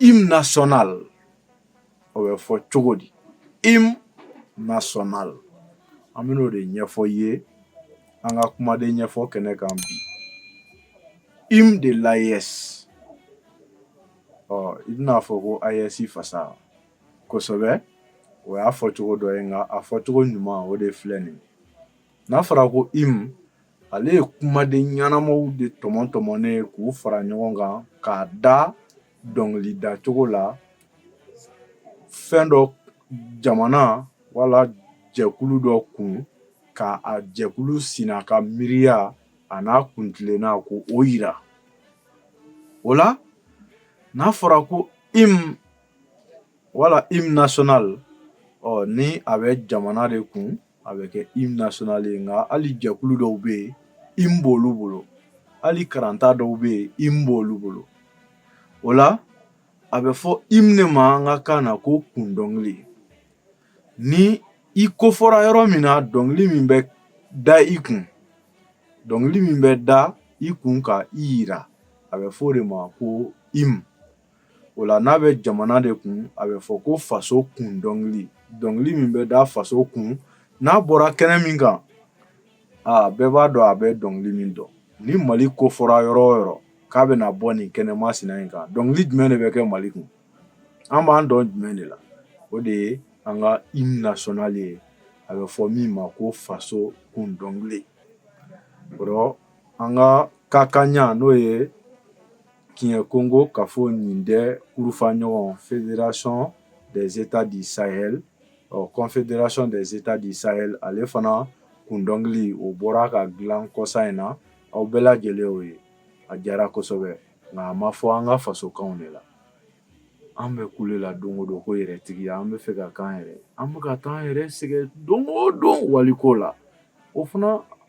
hymne national o bɛ fɔ cogo di hymne national an bɛna o de ɲɛfɔ i ye an ka kumaden ɲɛfɔ kɛnɛ kan bi hymne de l'AES i bɛn'a fɔ ko AES fasa kosɛbɛ o y'a fɔ cogo dɔ ye nka a fɔ cogo ɲuman o de filɛ nin n'a fɔra ko hymne ale ye kumaden ɲɛnamaw de tɔmɔ tɔmɔnen ye k'u fara ɲɔgɔn kan k'a da dɔnkili da cogo la fɛn dɔ jamana wala jɛkulu dɔ kun ka a jɛkulu sina ka miiriya a n'a kuntilenna ko o yira o la n'a fɔra ko hymne wala hymne national ɔ ni a bɛ jamana de kun a bɛ kɛ hymne national ye nka hali jɛkulu dɔw bɛ yen hymne b'olu bolo hali karanta dɔw bɛ yen hymne b'olu bolo o la a bɛ fɔ hymne de ma an ka kan na ko kun dɔnkili ni i kofɔra yɔrɔ min na dɔnkili min bɛ da i kun dɔnkili min bɛ da i kun ka i yira a bɛ fɔ o de ma ko hymne o la n'a bɛ jamana de kun a bɛ fɔ ko faso kun dɔnkili dɔnkili min bɛ da faso kun n'a bɔra kɛnɛ min kan aa bɛɛ b'a dɔn a bɛ dɔnkili min dɔn ni mali kofɔra yɔrɔ o yɔrɔ k'a bɛna bɔ nin kɛnɛ masina in kan dɔnkili jumɛn de bɛ kɛ mali kun an b'an dɔn jumɛn de la o de ye an ka hymne national ye a bɛ fɔ min ma ko faso kun dɔnkili o an ka ka kaɲa n'o ye Kiɲɛ kongo kafo nin dɛ kurufa ɲɔgɔn fédération des états du Sahel ɔ confédération des états du Sahel ale fana kun dɔnkili o bɔra ka dilan kɔsa in na, aw bɛɛ lajɛlen y'o ye, a diyara kosɛbɛ nka a ma fɔ an ka fasokanw de la, an bɛ kule la don o don ko yɛrɛtigiya, an bɛ fɛ ka k'an yɛrɛ ye, an bɛ ka k'an yɛrɛ sɛgɛn don o don waliko la, o fana